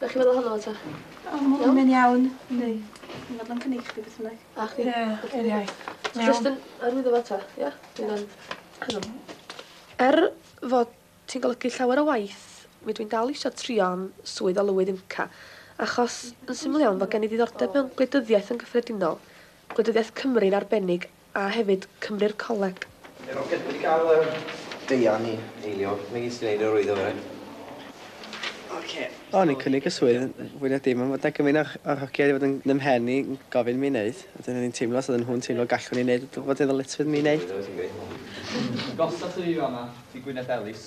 Be' chi'n meddwl ohono fo ta? O ma' hwn yn iawn. Yndi. Dwi'n meddwl yn cynnig chdi beth bynnag. A chdi? Ie yr iaith. Ti'n iawn? Jyst yn arwyddo fo ta? Ia? Dwi'n yn hyddom. Er fod ti'n golygu llawer o waith mi dwi'n dal isio trio am swydd o lywydd IMCA achos yn syml iawn fo gen i ddiddordeb mewn gwleidyddiaeth yn gyffredinol, gwleidyddiaeth Cymru yn arbennig a hefyd Cymru'r Coleg. Yr oedd wedi cael yr deian i eilio megis gwneud yr oedd o fyrryn. Ocê. O'n i'n cynnig y swydd fwy na dim ond fod 'na gymaint o'r hogia wedi bod yn yn 'mhen i yn gofyn mi neud a wedyn o'n i'n teimlo os oedden nhw'n teimlo gallwn i neud fod yn ddyletswydd mi neud. Gollwch i fi fan'na, i Gwyneth Ellis.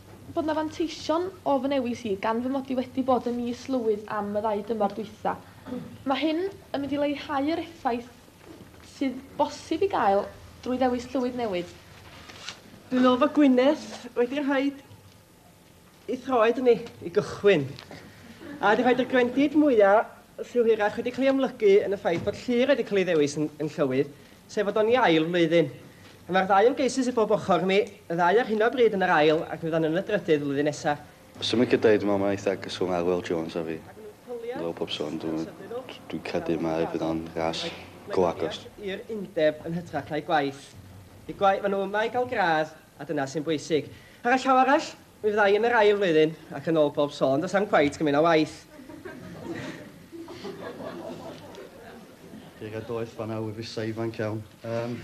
bod 'na fanteision o fy newis i, gan fy mod i wedi bod yn is-lywydd am y ddau dymor dwytha. Mae hyn yn mynd i leihau yr effaith sydd bosib i gael drwy ddewis llywydd newydd. Dwi'n meddwl fod Gwynedd wedi rhaid i throed yn ei i gychwyn, a wedi rhaid i'r gwendid mwya syw hirach wedi cael ei amlygu yn y ffaith bod Llŷr wedi cael ei ddewis yn yn llywydd, sef fod o'n i ail flwyddyn. A mae'r ddau ymgeisydd sydd bob ochr imi, y ddau ar hyn o bryd yn yr ail ac mi fyddan nhw'n y drydydd flwyddyn nesaf. Swn i'n cydau, dwi'n meddwl mae eitha agos Arwel Jones a fi. Ar ôl pob sôn, dw- dwi'n credu mae fydd o'n ras go agos. Mae cymell i'r undeb yn hytrach na'i gwaith. Y gwaith, maen nhw yma i gael gradd a dyna sy'n bwysig. Ar y llaw arall, Mi fydda i yn yr ail flwyddyn, ac yn ôl pob sôn, does na'm cweit gymaint â waith. Deg a doeth fan awr fysa ifanc iawn. Um...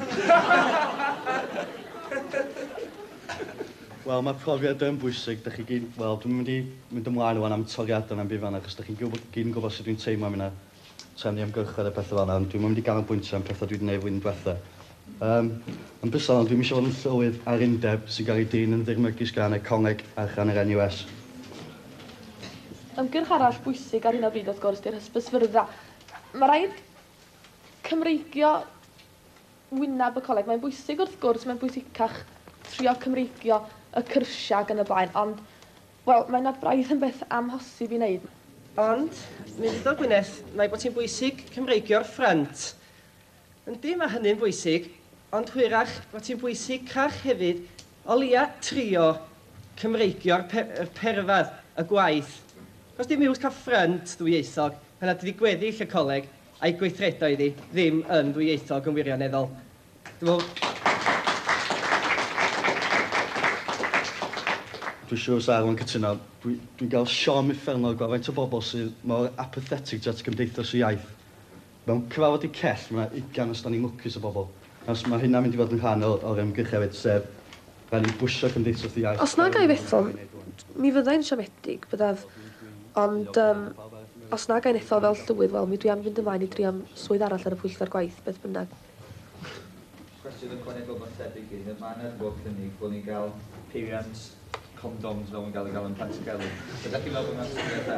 Wel, mae profiad yn bwysig. Da chi gyd, wel, dwi'n mynd i mynd ymlaen o'n am toriadau na'n byd fan achos da chi'n gyd yn gwybod sut dwi'n teimlo am hynna. trefnu ymgyrchoedd a pethau fel yna, ond dwi'n mynd i ganolbwyntio am pethau dwi wedi gwneud flwyddyn diwetha. Um, yn bysol, ond dwi'n eisiau fod yn llywydd ar undeb sy'n cael ei drin yn ddirmygus gan economeg a chan yr NUS. Ymgyrch arall bwysig ar hyn o bryd wrth gwrs di'r hysbysfyrddau. Mae rhaid Cymreigio wyneb y coleg. Mae'n bwysig wrth gwrs, mae'n bwysicach trio Cymreigio y cyrsiau ac yn y blaen, ond Wel, mae nad braidd yn beth amhosib i wneud. Ond, Mister Gwyneth, mae bod hi'n bwysig Cymreigio'r ffrynt. Yndi, mae hynny'n bwysig, ond hwyrach bod hi'n bwysicach hefyd o leia' trio Cymreigio'r pe- yr perfedd, y gwaith. Achos dim iws cael ffrynt ddwyieithog pan nad ydi gweddill y coleg a'i gweithredoedd hi ddim yn ddwyieithog yn wirioneddol. Dwi Dwi'n siŵr sa Arwyn cytuno. Dwi, dwi'n gael siom uffernol gweld faint o bobl sydd mor apathetic tuat Gymdeithas y Iaith. Mewn cyfarfod i cell, mae yna ugain os da ni'n lwcus o bobl. Os mae hynna'n mynd i fod yn rhan o'r, o'r ymgyrch hefyd, sef rhaid ni bwysio Cymdeithas y Iaith. Os nag ai fethom, mi fyddai'n siomedig, byddaf, ond yym, os nag ai'n ethol fel llywydd, wel, mi dwi am fynd ymlaen i drio'n swydd arall ar y Pwyllgor Gwaith, beth bynnag. Cwestiwn ychwanegol mae'n tebyg i, mae yna wedi bod cynnig bod ni'n cael peiriant condoms fel mae'n cael ei gael yn Pantycelyn. Ydych chi'n meddwl bod yna'n syniad da?